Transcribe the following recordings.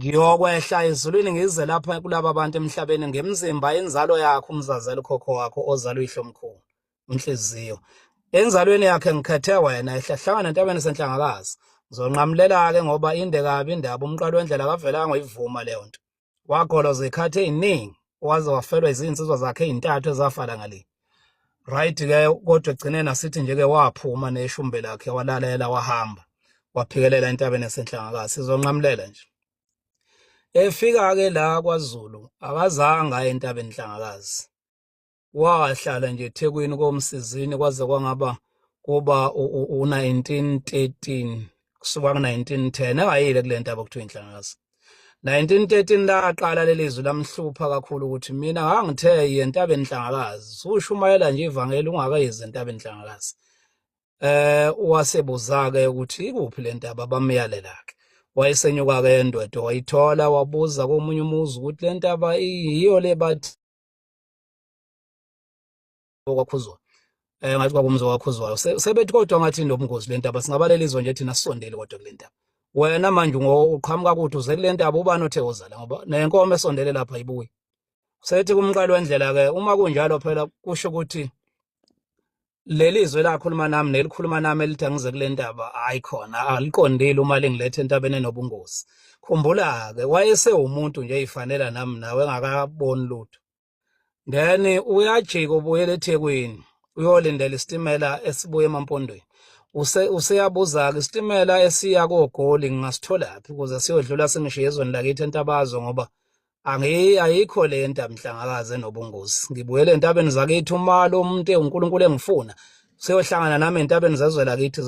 Ngiyokwehla ezulwini ngize lapha kulaba bantu emhlabeni ngemzimba inzalo yakho umzazela ukhokho wakho ozala uyihlo mkhulu inhliziyo enzalweni yakhe ngikhethe wena ehlahlangana entabeni senhlangakazi ngizonqamulela-ke ngoba inde kabi indaba umqalo wendlela kavelanga uyivuma leyo nto wagolwa zekhathi eziningi waze wafelwa izinsizwa zakhe ezintathu ezafala ngale right ke kodwa egcineni asithi nje ke waphuma neshumbe lakhe walalela wahamba waphikelela entabeni yasenhlangakazi sizonqamulela nje efika ke la kwaZulu akazange aye entabeni enhlangakazi wahlala nje ethekwini komsizini kwaze kwangaba kuba u-1913 kusuka ku-1910 engayile kule ntaba kuthiwa inhlangakazi 1913 laqala leli zwi lamhlupha kakhulu ukuthi mina ngangithe yentaba enhlangakazi ushumayela nje ivangeli ungakayezi entaba enhlangakazi eh wasebuza-ke ukuthi ikuphi le ntaba bamyalelake wayesenyuka-ke endoda wayithola wabuza komunye umuzi ukuthi le ntaba iyiyo le bathi okwakhuzwa eh ngathi kwakumzi okwakhuzwayo sebethi kodwa ngathi nobungozi lentaba singabalela izwe nje thina sisondele kodwa kulentaba wena manje ngoqhamuka kuthi uze kulentaba ubani othe uzala ngoba nenkomo esondele lapha ibuyi sethi kumqalo wendlela ke uma kunjalo phela kusho ukuthi leli zwe lakhuluma nami nelikhuluma nami elithi angize kule ndaba hayi khona aliqondile uma lingilethe entabeni enobungozi khumbula-ke wayesewumuntu nje eyifanela nami nawe engakaboni lutho then uyajika ubuyela ethekwini uyolindela isitimela esibuya emampondweni useyabuza-ke isitimela esiya kogoli ngingasitholaphi ukuze siyodlula singishiye ezweni lakithi entabazo ngoba angiyi ayikho le nta mhlangakaze nobungozi ngibuyele entabeni zakithi uma lo muntu uNkulunkulu engifuna seyohlangana nami entabeni zezwe lakithi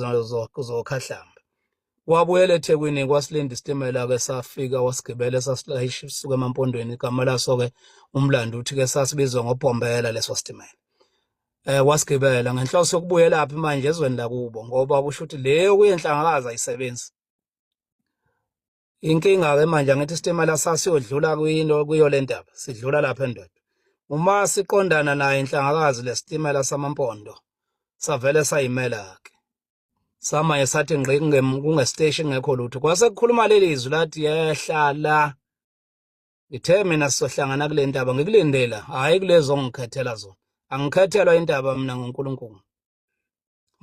zokhahlamba wabuyela ethekwini kwasilinda isitimela ke safika wasigibele sasilayisha suka emampondweni igama laso ke umlando uthi ke sasibizwa ngobhombela leso sitimela eh wasigibela ngenhloso yokubuyela phi manje ezweni lakubo ngoba kusho ukuthi leyo kuyenhlangakazi ayisebenzi inkinga ke manje angithi isitimela sasiyodlula kwinto kuyo le ndaba sidlula lapha endoda uma siqondana naye inhlangakazi lesitimela samampondo savele sayimela ke samanye sathi ngqi kungesiteshi ngekho lutho kwase kukhuluma leli izwi lathi yehla la ngithe mina sizohlangana kule ndaba ngikulindela hhayi kulezo ongikhethela zona angikhethelwa indaba mina ngunkulunkulu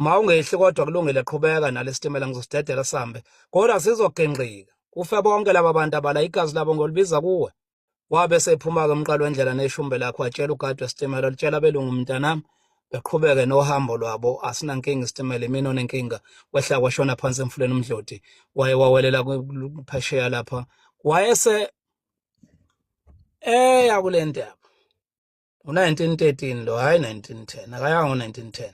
mawungehli kodwa kulungile qhubeka nalesitimela ngizostedela sambe kodwa sizogengqika kufe bonke laba bantu abala igazi labo ngolibiza kuwe wabe sephuma-ke umqalo wendlela neshumbe lakho watshela ugadi wesitimela litshela belungu mntanami beqhubeke nohambo lwabo asinankinga isitimela imini onenkinga kwehla kwashona phansi emfuleni umdloti waye wawelela phesheya lapha wayese eya kule ndaba u-1913 lo hhayi 1910 akayanga ngo-1910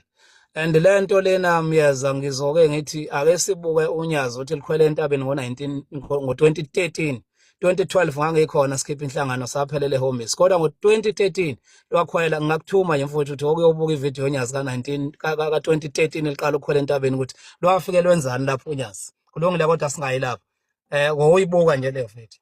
and le nto lena myeza ngizoke ngithi ake sibuke unyazi ukuthi likhwele entabeni ngo-2013 2012 ngangikhona sikhipha inhlangano saphelele ehombisi kodwa ngo-2013 lwakhwela ngingakuthuma nje mfowethu ukuthi okuyobuka ividiyo yonyazi ka-2013 eliqala ukukhwela entabeni ukuthi lwafike lwenzani lapho unyazi kulungile kodwa singayi lapho um eh, ngoyibuka nje le vidiyo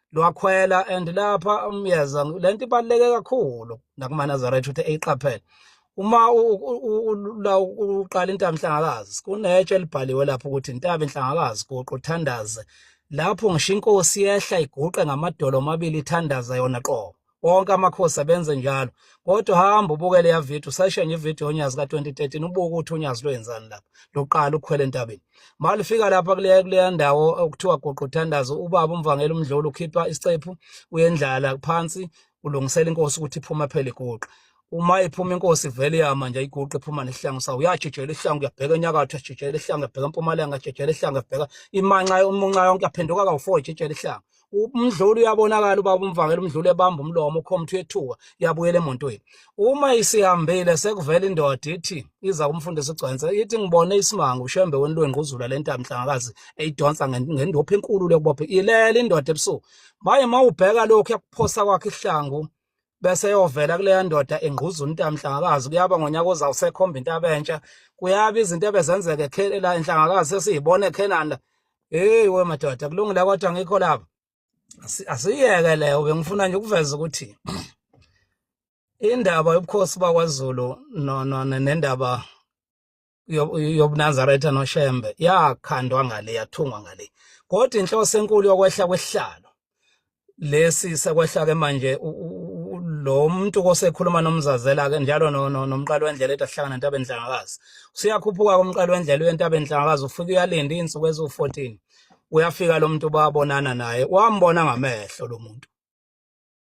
lwakhwela and lapha umyeza um, lento ibaluleke kakhulu nakumanazaretha ukuthi eyiqaphele uma la uqala intaba inhlangakazi kunetshe elibhaliwe lapho ukuthi intaba inhlangakazi guqu thandaze lapho ngisho inkosi yehla iguqe ngamadolo omabili ithandaza yona qobo wonke amakhosi abenze njalo kodwa hamba ubuke leya video sashenye ivideo onyazi ka-2013 ubuke ukuthi unyazi lwenzani lapha loqala ukukhwela entabeni malifika lapha kuleya kuleya ndawo okuthiwa goqo uthandazo ubaba umvangela umdlolo ukhipha isicephu uyendlala phansi ulungisela inkosi ukuthi iphuma phela iguqa uma iphuma inkosi vele yama nje iguqe iphuma nesihlangu sawo uyajijela isihlangu uyabheka enyakatho ajijela isihlangu uyabheka empumalanga ajijela isihlangu uyabheka imanxa umunxa yonke aphenduka kawu-four ijijela isihlangu umdluli uyabonakala ubaba umvangela umdluli ebamba umlomo ukhomthi uyethuka uyabuyela emontweni uma isihambile sekuvela indoda ithi iza kumfundisa ugcwense ithi ngibone isimanga ushembe wenu lwengquzula le ntambi nhlangakazi eyidonsa ngendopha enkulu lokubopha ilela indoda ebusuku maye uma ubheka lokhu yakuphosa kwakhe ihlangu bese yovela kuleya ndoda engquza untamhlangakazi kuyaba ngonyaka ozawu sekhomba into abentsha kuyaba izinto ebezenzeka ekhela enhlangakazi sesiyibona ekhenani la heyi we madoda kulungile kodwa ngikho lapha asiyeke leyo bengifuna nje ukuveza ukuthi indaba yobukhosi bakwaZulu nendaba yobunazaretha noshembe yakhandwa ngale yathungwa ngale kodwa inhloso enkulu yokwehla kwesihlalo lesi sekwehla ke manje lo muntu kosekhuluma nomzazela ke njalo nomqalo wendlela ethi ahlangana ntabe ndlangakazi usiyakhuphuka komqalo wendlela uyentabe ndlangakazi ufike uyalinda izinsuku eziwu-14 uyafika lo muntu babonana naye wambona ngamehlo lo muntu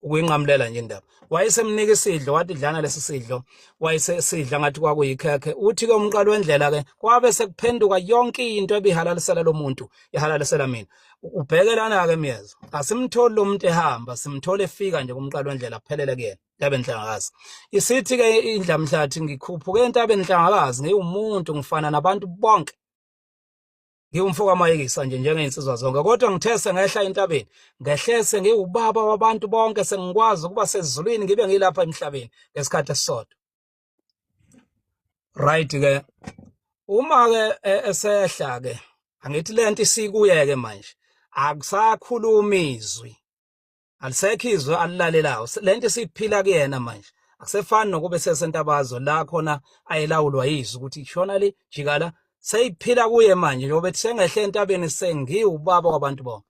ukuyinqamulela nje indaba wayesemnika isidlo wathi dlana lesi sidlo wayesesidla ngathi kwakuyikhekhe uthi-ke umqalo wendlela-ke kwabe sekuphenduka yonke into ebihalalisela lo muntu ihalalisela mina ubheke lana-ke myeza asimtholi lo muntu ehamba simthole efika nje kumqalo wendlela kuphelele kuyena yabe nhlangakazi isithi-ke indlamhlathi ngikhuphuke entabeni nhlangakazi ngiwumuntu ngifana nabantu bonke ngiwumfo kamayekisa nje njengey'nsizwa zonke kodwa ngithe sengehla entabeni ngehlese ngiwubaba wabantu bonke sengikwazi ukuba sezulwini ngibe ngilapha emhlabeni ngesikhathi esisodwa right ke uma ke e, esehla ke angithi lento isikuye ke manje akusakhuluma izwi alisekho izwe alilalelayo lento siphila kuyena manje akusefani nokube sesentabazwe la khona ayelawulwa yizwe ukuthi shona le jikala seyiphila kuye manje njengoba ethi sengehle entabeni sengiwubaba kwabantu bonke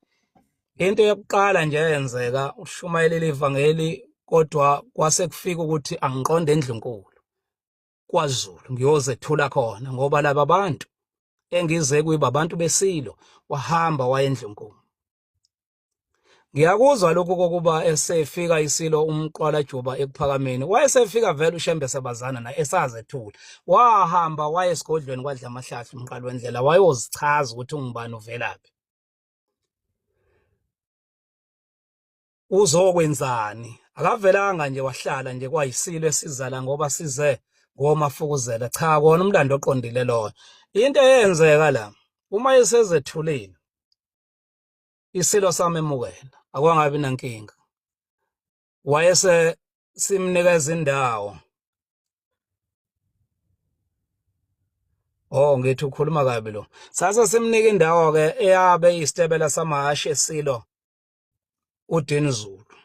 into yokuqala nje eyenzeka ushumayelile ivangeli kodwa kwase kufika ukuthi angiqonde endlunkulu kwaZulu ngiyozethula khona ngoba laba bantu engize kuyiba abantu besilo wahamba wayendlunkulu ngiyakuzwa lokhu kokuba esefika isilo umqwala juba ekuphakameni wayesefika vele ushembe sebazana naye esazethula wahamba waye esigodlweni kwadla amahlahla umqala wendlela wayozichaza ukuthi ungubani uvelaphi uzokwenzani akavelanga nje wahlala nje kwayisilo esizala ngoba size ngomafukuzela cha kona umlando oqondile loyo into eyenzeka la uma esezethulile isilo samemukela akwangabi nankinga wayese simnikeza indawo Oh ngithi ukhuluma kabi lo. Sase simnika indawo ke eyabe isitebela samahashi esilo uDin Zulu.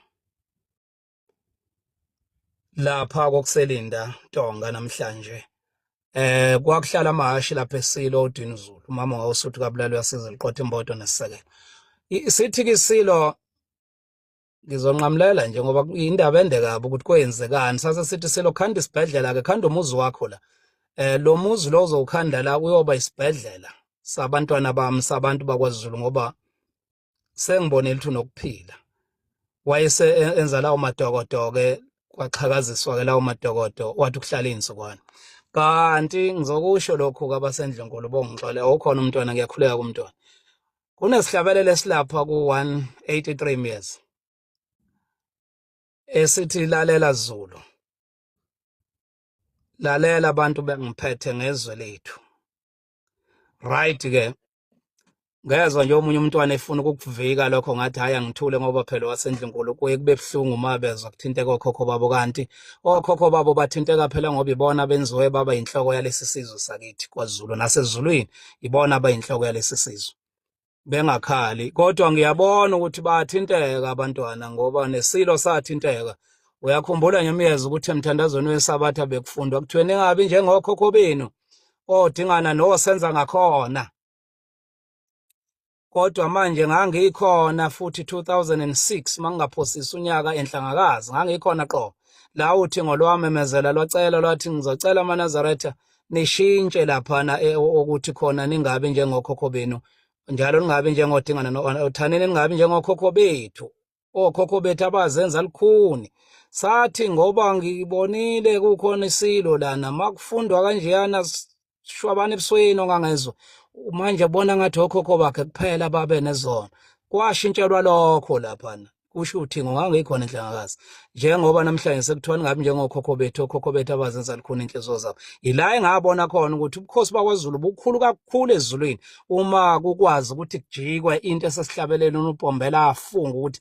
lapha kokuselinda Tonga namhlanje eh kwakuhlala amahashi lapha eSilo uDinizulu umama wawusuthi kabulali uyasiza liqotha imbodo nesisekelo isithi kisilo ngizonqamulela nje ngoba indaba ende kabi ukuthi kwenzekani sase sithi silo khanda isibhedlela ke khanda umuzi wakho la eh lo muzi lo uzowukhanda la uyoba isibhedlela sabantwana bami sabantu bakwaZulu ngoba sengibonile ukuthi unokuphila wayese e-, enza lawo madokodoke kwaxhakaziswa ke lawo madokodo wathi ukuhlala izinsukwana kanti ngizokusho lokhu kabasendlunkulu bongixole awukhona umntwana ngiyakhuleka kumntwana kunesihlabelelo esilapha ku-183 years esithi lalela zulu lalela abantu bengiphethe ngezwe lethu right ke ngezwa nje omunye umntwana efuna ukukuvika lokho ngathi hhayi angithule ngoba phela wasendlunkulu kuye kube buhlungu uma bezwa kuthinteka okhokho babo kanti okhokho babo bathinteka phela ngoba ibona benziwe baba yinhloko yalesi sizwe sakithi kwazulu nasezulwini ibona abayinhloko yalesi sizwe bengakhali kodwa ngiyabona ukuthi bayathinteka abantwana ngoba nesilo sathinteka uyakhumbula nyamyeza ukuthi emthandazweni wesabatha bekufundwa kuthiweni ingabi njengokhokho benu odingana nosenza ngakhona kodwa manje ngangikhona futhi 2006 mangingaphosisa unyaka enhlangakazi ngangikhona qo la uthi ngolwamemezela lwacela lwathi ngizocela amanazaretha nishintshe laphana eh, ukuthi khona ningabi njengokhokho benu njalo ningabi njengodingana nothaneni ningabi njengokhokho bethu okhokho bethu abazenza lukhuni sathi ngoba ngibonile kukhona isilo lana makufundwa kanjeyana shwabana ebusweni ongangezwa manje bona ngathi okhokho bakhe kuphela babe nezona kwashintshelwa lokho laphana kusho uthingo ngangikhona inhlangakazi njengoba namhlanje sekuthiwa ningabi njengokhokho bethu okhokho bethu abazenza likhona inhliziyo zabo yila engabona khona ukuthi ubukhosi bakwazulu bukhulu kakhulu ezulwini uma kukwazi ukuthi kujikwe into esesihlabeleni unupombela afunga ukuthi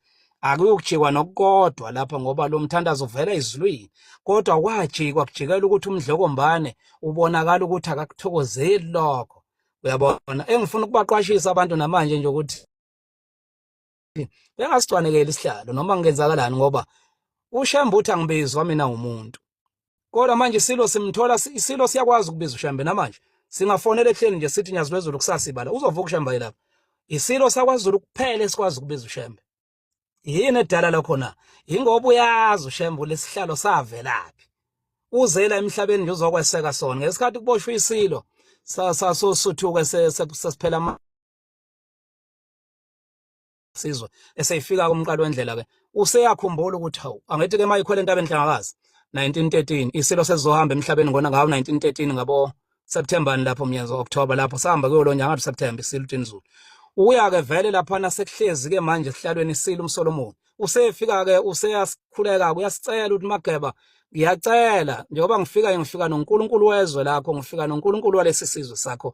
akuyokujikwa nokukodwa lapha ngoba lo mthandazo uvela ezulwini kodwa kwajikwa kujikela ukuthi umdlokombane ubonakala ukuthi akakuthokozeli lokho uyabona engifuna ukubaqwashisa abantu namanje nje ukuthi bengasicwanekeli isihlalo noma ngenzakalani ngoba uShembe uthi angibizwa mina umuntu kodwa manje isilo simthola isilo siyakwazi ukubiza uShembe namanje singafonela ehleni nje sithi nyazi lwezulu kusasa ibala uzovuka uShembe yilapha isilo sakwazulu kuphela esikwazi ukubiza uShembe yini edala lokho na ingoba uyazi uShembe lesihlalo savelaphi uzela emhlabeni nje uzokweseka sona ngesikhathi kuboshwa isilo sasosuthuke sesiphela sizwe eseyifika kumqalo wendlela ke useyakhumbula ukuthi hawu angithi ke mayikhwele entabeni hlangakazi 1913 isilo sesizohamba emhlabeni ngona ngawo 1913 ngabo September lapho mnyezo October lapho sahamba kuyo lo nyanga September isilo tinzulu uya ke vele lapha nasekuhlezi ke manje sihlalweni isilo umsolomoni usefika ke useyasikhuleka uyasicela ukuthi mageba ngiyacela njengoba ngifika ngifika noNkulunkulu wezwe lakho ngifika noNkulunkulu walesi sizwe sakho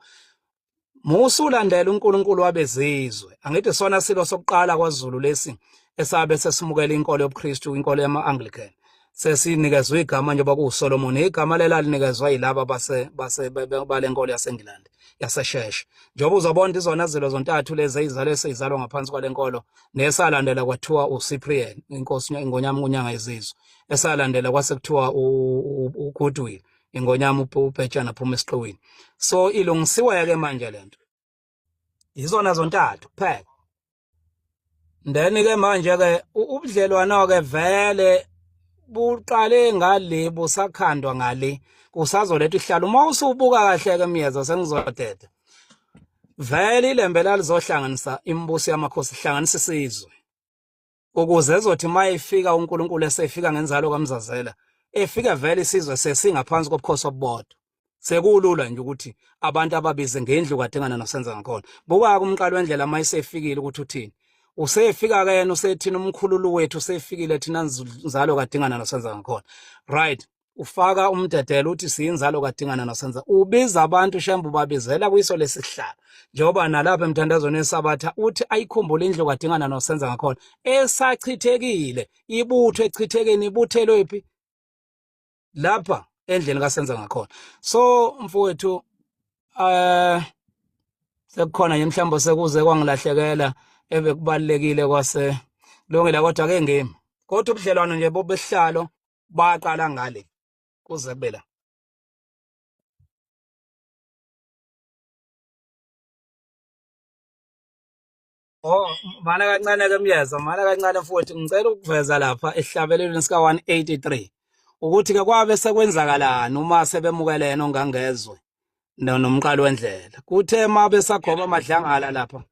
musulandela uNkulunkulu wabezizwe angithi sona silo sokuqala kwaZulu lesi esabe sesimukela inkolo yobuKristu inkolo yama-Anglican sesinikezwe igama njengoba kuwuSolomon igama lelalinikezwa yilaba base base balenkolo yaseNgilandi yasesheshe njengoba uzobona izona zilo zontathu lezi eyizalo eseyizalwa ngaphansi kwalenkolo nesalandela kwathiwa uCyprian inkosi ingonyama kunyanga yezizwe esalandela kwase kuthiwa uGoodwill ingonyama ubhetshana phuma esiqiwini so ilungisiweke manje lento izona zontathu kuphela then ke manje ke ubudlelwano ke vele buqale ngale busakhandwa ngale kusazoletha ihlalo uma usubuka kahle ke myeza sengizodeda vele ilembe lalizohlanganisa imibuso yamakhosi ihlanganisa isizwe ukuze ezothi uma efika uNkulunkulu esefika ngenzalo kaMzazela efika vele isizwe sesingaphansi kobukhosi obubodwa sekulula nje ukuthi abantu ababize ngendlu kadingana nosenza ngakhona buka-ke umqalo wendlela uma esefikile ukuthi uthini usefika-ke yena usethina umkhululu wethu usefikile thina nzalo kadingana nosenza ngakhona right ufaka umdedelo uthi siyinzalo kadingana nosenza ubiza abantu shembu babizela kwiso lesihlalo njengoba nalapha emthandazweni esabatha uthi ayikhumbule indlu kadingana nosenza ngakhona esachithekile ibutho echithekeni ibuthelwe phi lapha endlini kasenza ngakhona so mfowethu eh sekukhona nje mhlawumbe sekuze kwangilahlekela ebekubalekile kwase lungile kodwa ke ngimi kodwa ubudlelwano nje bobehlalo baqala ngale kuze kube la Oh, mana kancane ke myeza, mana kancane futhi ngicela ukuveza lapha esihlabelelweni sika 183 ukuthi ke kwabe sekwenzakalani uma sebemukelene ongangezwe nomqalo wendlela. Kuthe uma besagoba amadlangala lapha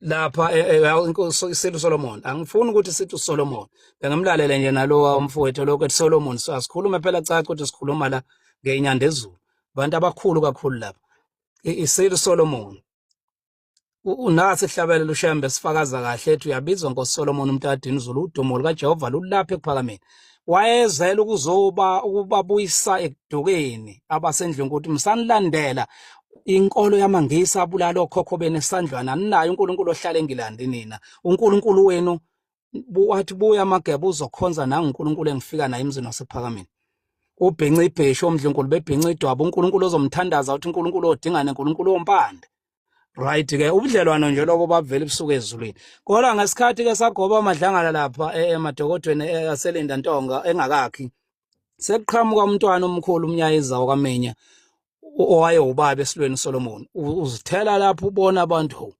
lapha eh, eh, inkosi isile uSolomon angifuni ukuthi sithi uSolomon bengamlalela nje nalowa umfowethu lokho ethi Solomon so asikhulume phela caca ukuthi sikhuluma la ngeinyanda ezulu abantu abakhulu kakhulu lapha isile uSolomon unasi hlabele lushembe sifakaza kahle ethi uyabizwa ngoSolomon umntadini izulu udumo lukaJehova lulapha ekuphakameni wayezela ukuzoba ukubabuyisa ekudukeni abasendlini ukuthi msanilandela inkolo yamangisi abulala okhokho benu esandlwana aninayo uNkulunkulu ohlale engilandi nina uNkulunkulu wenu wathi buya amageba uzokhonza nanguNkulunkulu engifika naye emzini wasephakameni ubhinca ibheshu omdlunkulu bebhinca idwaba uNkulunkulu ozomthandaza uthi uNkulunkulu odingane uNkulunkulu ompande right ke ubudlelwano nje lobo babuvela ebusuku ezulwini kodwa ngesikhathi ke sagoba amadlangala lapha e, emadokodweni e, aselinda ntonga engakakhi sekuqhamuka umntwana omkhulu umnyayiza wakamenya owaye ubaba esilweni Solomon uzithela lapho ubona abantu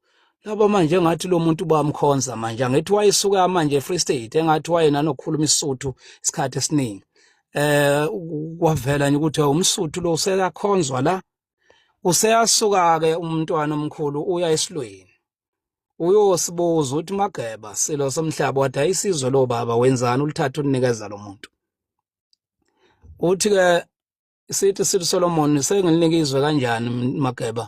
laba manje ngathi lo muntu bamkhonza manje angithi wayesuka manje Free State engathi wayena nokukhuluma isisuthu isikhathi esiningi eh kwavela nje ukuthi umsuthu lo usekakhonzwa la Useyasuka-ke umntwana omkhulu uya esilweni. Uyosibuza uthi Mageba silo somhlaba wadayisa izwe lobaba wenzani ulithatha ulinikeza lo muntu. Uthi-ke sithi sithi Solomon sengilinika izwe kanjani Mageba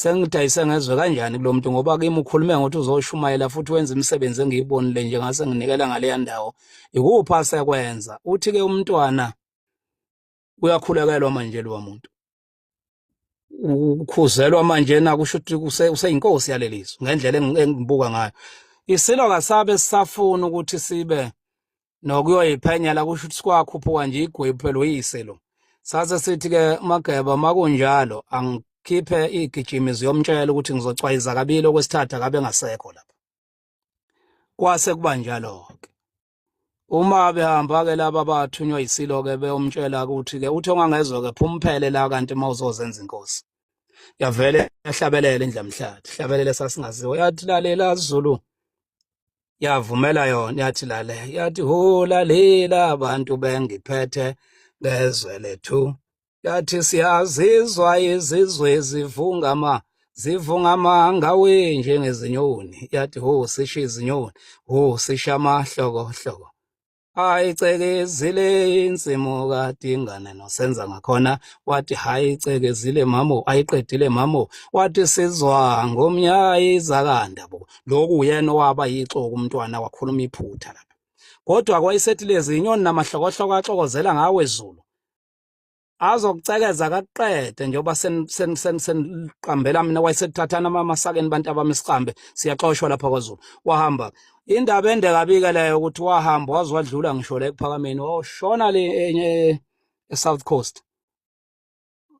sengidayise ngezwe kanjani kulo muntu ngoba kimi ukhulume ngokuthi uzoshumayela futhi wenza imisebenzi engiyibonile nje ngase nginikela ngaleya ndawo yikuphi asekwenza uthi-ke umntwana uyakhulekelwa manje lo muntu ukhuzelwa manje na kusho ukuthi useyinkosi yalelizwe ngendlela engibuka ngayo isilo kasabe sisafuna ukuthi sibe nokuyoyiphenyela kusho ukuthi sikwakhuphuka nje igwebu phela uyisilo sase sithi ke mageba makunjalo angikhiphe igijimi ziyomtshela ukuthi ngizocwayiza kabili okwesithathu akabe ngasekho lapha kwase kuba njalo ke uma behamba ke laba bathunywa isilo ke beyomtshela ukuthi ke uthi ongangezwe ke phumphele la kanti uma uzozenza inkosi yavele yahlabelela indlamhlathi hlabelela sasingaziwa yathi lalela Zulu yavumela yona yathi lale yathi ho lalela abantu bengiphethe ngezwe lethu yathi siyazizwa izizwe zivungama zivungama ngawe njengezinyoni yathi ho sisho izinyoni ho sisho amahlokohloko ayicekezile insimu kadingane nosenza ngakhona wathi hayi icekezile mamo ayiqedile mamo wathi sizwa ngomnyayi zakanda bo lokhu uyena owaba yixoku umntwana wakhuluma iphutha lapha kodwa kwayisethi lezi inyoni namahlokohloko axokozela ngawe zulu azokucekeza kakuqede njengoba seniqambela mina wayesekuthathana amamasakeni bantu abami siqambe siyaxoshwa lapha kwazulu wahamba indaba ende kabike leyo ukuthi wahamba waze wadlula ngisho la ekuphakameni washona le e-south coast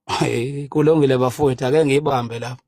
hayi kulungile bafowethu ake ngiyibambe lapho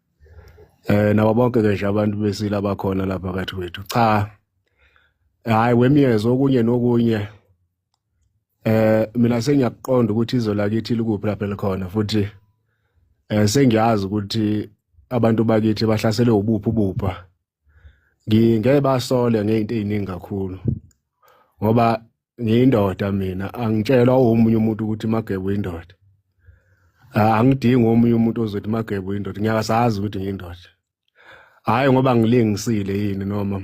eh nabo bonke ke nje abantu besile abakhona lapha kathi kwethu cha hayi wemyezo okunye nokunye eh mina sengiyakuqonda ukuthi izwe lakithi likuphi lapha elikhona futhi eh sengiyazi ukuthi abantu bakithi bahlaselwe ubuphi ubupha ngingeke basole ngezinto eziningi kakhulu ngoba ngiyindoda mina angitshelwa omunye umuntu ukuthi magebo indoda ah, angidingi omunye umuntu ozothi magebo indoda ngiyasazi ukuthi ngiyindoda hhayi ngoba ngilingisile yini noma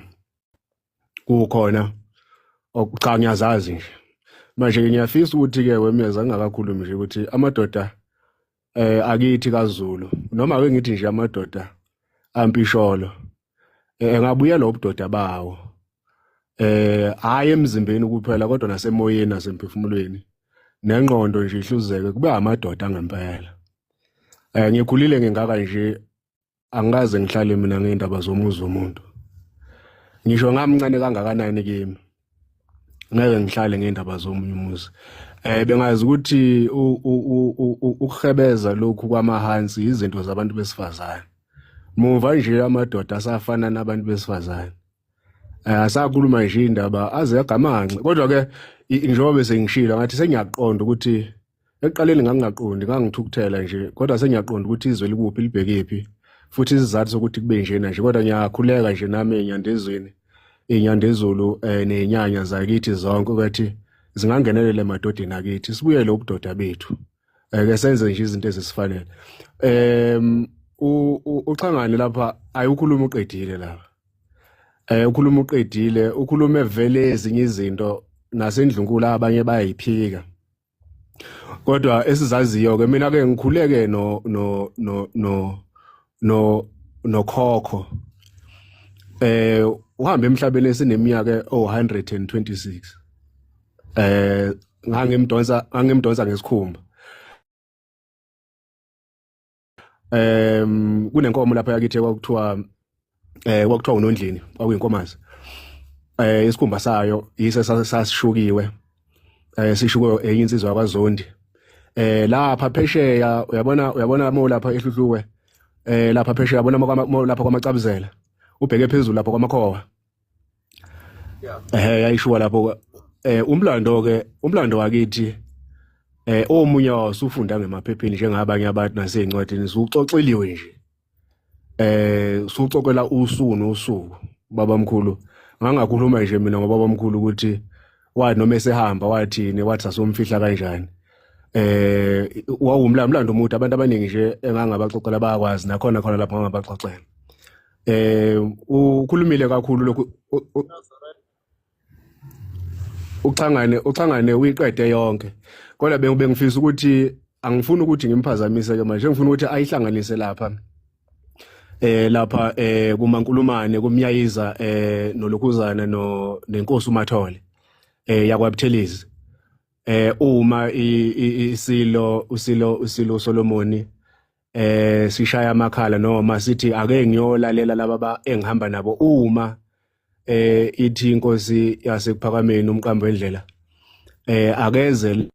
kukhona cha ngiyazazi nje manje-ke ngiyafisa ukuthi-ke wemeza ngingakakhulumi nje ukuthi amadoda eh akithi kaZulu noma ke ngithi nje amadoda ampisholo eh ngabuya lo budoda bawo eh hayi emzimbeni kuphela kodwa nasemoyeni nasemphefumulweni nengqondo nje ihluzeke kube amadoda ngempela eh ngikhulile ngingaka nje angikaze ngihlale mina ngeindaba zomuzi womuntu ngisho ngamncane kangakanani kimi ngeke ngihlale ngeindaba zomunye umuzi eh bengazi ukuthi ukuhebeza lokhu kwamahansi izinto zabantu besifazane muva nje amadoda asafana nabantu besifazane eh, asakhuluma nje indaba aze agamanxe kodwa ke njengoba besengishilo ngathi sengiyaqonda ukuthi ekuqaleni ngangingaqondi ngangithukuthela nje kodwa sengiyaqonda ukuthi izwe likuphi libhekephi futhi isizathu sokuthi kube njena nje kodwa ngiyakhuleka nje nami enyandezweni inyandezulu um eh, nenyanya zakithi zonke ukuthi zingangenelela emadodeni akithi sibuyele ubudoda bethu um ke senze nje izinto ezisifanele um uxhangane lapha ayiwukhuluma uqedile lapha um ukhuluma uqedile ukhulume vele ezinye izinto nasendlunkulu abanye bayayiphika kodwa esizaziyo ke mina ke ngikhuleke no no no no no nokhokho eh uhamba emhlabeni esineminyaka o126 eh ngangimdonsa ngangimdonsa ngesikhumba um kunenkomo lapha yakithi kwakuthiwa eh kwakuthiwa unondlini kwakuyinkomazi eh isikhumba sayo yise sasishukiwe eh sishukiwe enye insizwa kwaZondi eh lapha phesheya uyabona uyabona mo lapha ehluhluwe eh lapha phesheya yabona lapha kwamacabuzela ubheke phezulu lapha kwamakhowa eh yayishuwa lapho eh umlando ke umlando wakithi eh omunye wasufunda ngemaphepheni njengabanye abantu nasezincwadini suxoxeliwe nje eh suxoxela usuku nosuku babamkhulu ngangakhuluma nje mina ngobabamkhulu ukuthi wathi noma esehamba wathini wathi sasomfihla kanjani eh wawumlando omude abantu abaningi nje engangabaxoxela bayakwazi nakhona khona lapho ngangabaxoxela eh ukhulumile kakhulu lokhu uxhangane uxhangane uyiqede yonke kodwa bengifisa ukuthi angifuni ukuthi ngimphazamise ke manje ngifuna ukuthi ayihlanganise lapha eh lapha eh kumankulumane kumyayiza eh nolokuzana no nenkosi umathole eh yakwabuthelezi eh uma isilo usilo usilo Solomoni eh sishaya amakhala noma sithi ake ngiyolalela laba engihamba nabo uma eh ithi inkosi yasekuphakameni umqambo endlela eh akeze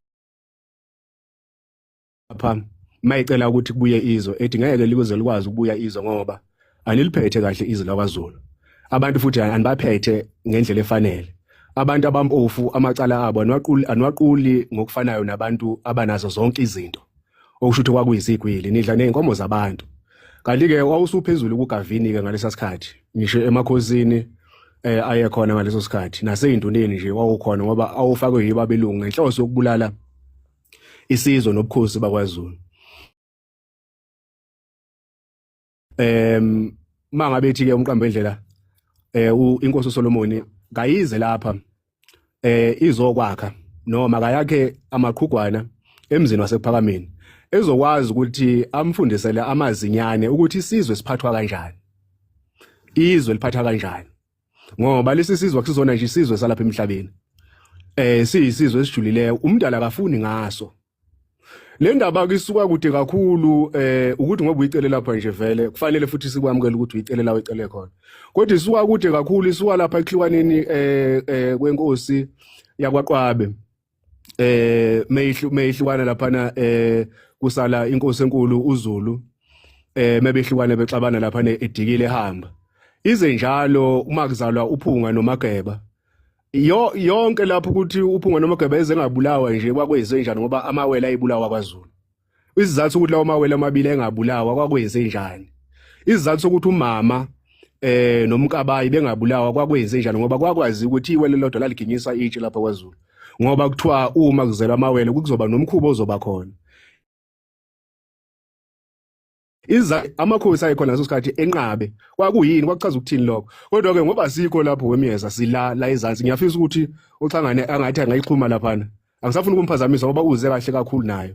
lapha mayicela ukuthi kubuye izwe ethi ngeke likuze likwazi ukubuya izwe ngoba aniliphethe kahle izwe lakwaZulu abantu futhi anibaphethe ngendlela efanele abantu abampofu amacala abo anwaquli anwaquli ngokufanayo nabantu abanazo zonke izinto okusho ukuthi kwakuyisigwili nidla nezinkomo zabantu kanti ke wawusuphezulu kuGavini ke ngalesa sikhathi ngisho emakhosini eh aye khona ngaleso sikhathi naseyinduneni nje wawukhona ngoba awufakwe yibabelungu ngenhloso yokubulala isizwe nobukhosi bakwaZulu em mangabe ethi ke umqambe endlela eh inkosi uSolomoni kayize lapha eh izokwakha noma kayakhe amaqhugwana emzini wasephakameni ezokwazi ukuthi amfundisele amazinyane ukuthi isizwe siphathwa kanjani izwe liphatha kanjani ngoba lesi sizwe kusizona nje isizwe salapha emhlabeni eh siyisizwe esijulileyo umdala akafuni ngaso le ndaba ke isuka kude kakhulu eh ukuthi ngoba uyicele lapha nje vele kufanele futhi sikwamukele ukuthi uyicele la uyicele khona kodwa isuka kude kakhulu isuka lapha ekhliwaneni eh, eh kwenkosi yakwaqwabe eh meyihlu meyihlukana lapha na eh kusala inkosi enkulu uZulu eh mebehlukane bexabana lapha ne edikile ehamba ize njalo uma kuzalwa uphunga nomageba yo yonke lapho ukuthi uphunga noma gebeza engabulawa nje kwakwenze njani ngoba amawele ayibulawa kwaZulu isizathu ukuthi lawo mawele amabili engabulawa kwakwenze njani isizathu ukuthi umama eh nomkabayi bengabulawa kwakwenze njani ngoba kwakwazi ukuthi iwele lodwa laliginyisa itshe lapha kwaZulu ngoba kuthiwa uma kuzelwa amawele kuzoba nomkhuba ozoba khona iza amakhosi ayekhona leso sikhathi enqabe kwakuyini kwakuchaza ukuthini lokho kodwa ke ngoba sikho lapho wemyeza sila la ezansi ngiyafisa ukuthi uxhangane angathi angayixhuma laphana angisafuni ukumphazamisa ngoba uze kahle kakhulu nayo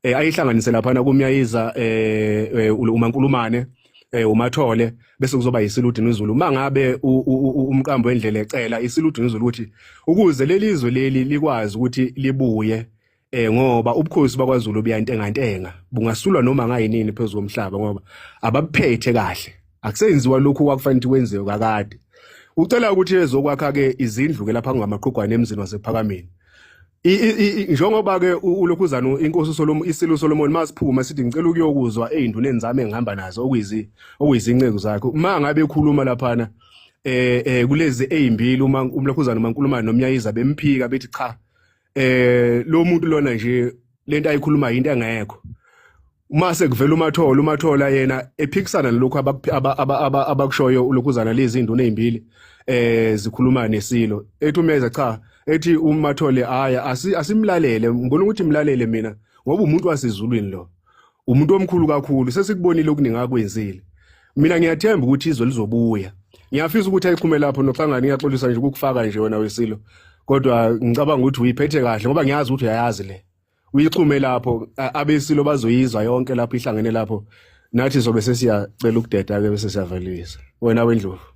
eh ayihlanganise laphana kumyayiza eh, eh uma nkulumane eh umathole bese kuzoba yisiludini izulu uma ngabe umqambo wendlela ecela isiludini izulu ukuthi ukuze lelizwe leli likwazi ukuthi libuye eh ngoba ubukhosi bakwaZulu buyantengantenga bungasulwa noma ngayinini phezulu komhlaba ngoba ababuphethe kahle akusenziwa lokhu kwakufanele kwenziwe kakade ucela ukuthi ezokwakha ke izindlu ke lapha kungamaqhugwane emzini wasephakameni njengoba ke ulokhu uzana inkosi uSolomon isilo uSolomon masiphuma sithi ngicela ukuyokuzwa ezinduneni zami engihamba nazo okuyizi okuyizinceku zakhe uma ngabe ekhuluma laphana eh eh kulezi ezimbili uma umlokhuzana umaNkulumane nomnyayiza bemphika bethi cha eh lo muntu lona nje lento ayikhuluma into engekho uma sekuvela umathola umathola yena ephikisana nalokho abakushoyo ulokhuzana lezi nduna ezimbili eh zikhuluma nesilo ethi umeza cha ethi umathole haya asimlalele ngibona ukuthi imlalele mina ngoba umuntu wasezulwini lo umuntu omkhulu kakhulu sesikubonile okuningi akwenzile mina ngiyathemba ukuthi izwe lizobuya ngiyafisa ukuthi ayiphume lapho noxangana ngiyaxolisa nje ukukufaka nje wena wesilo kodwa ngicabanga ukuthi uyiphethe kahle ngoba ngiyazi ukuthi uyayazi le uyixhume lapho abesilo bazoyizwa yonke lapho ihlangene lapho nathi sobe sesiyacela ukudeda ke bese siyavelisa wena wendlovu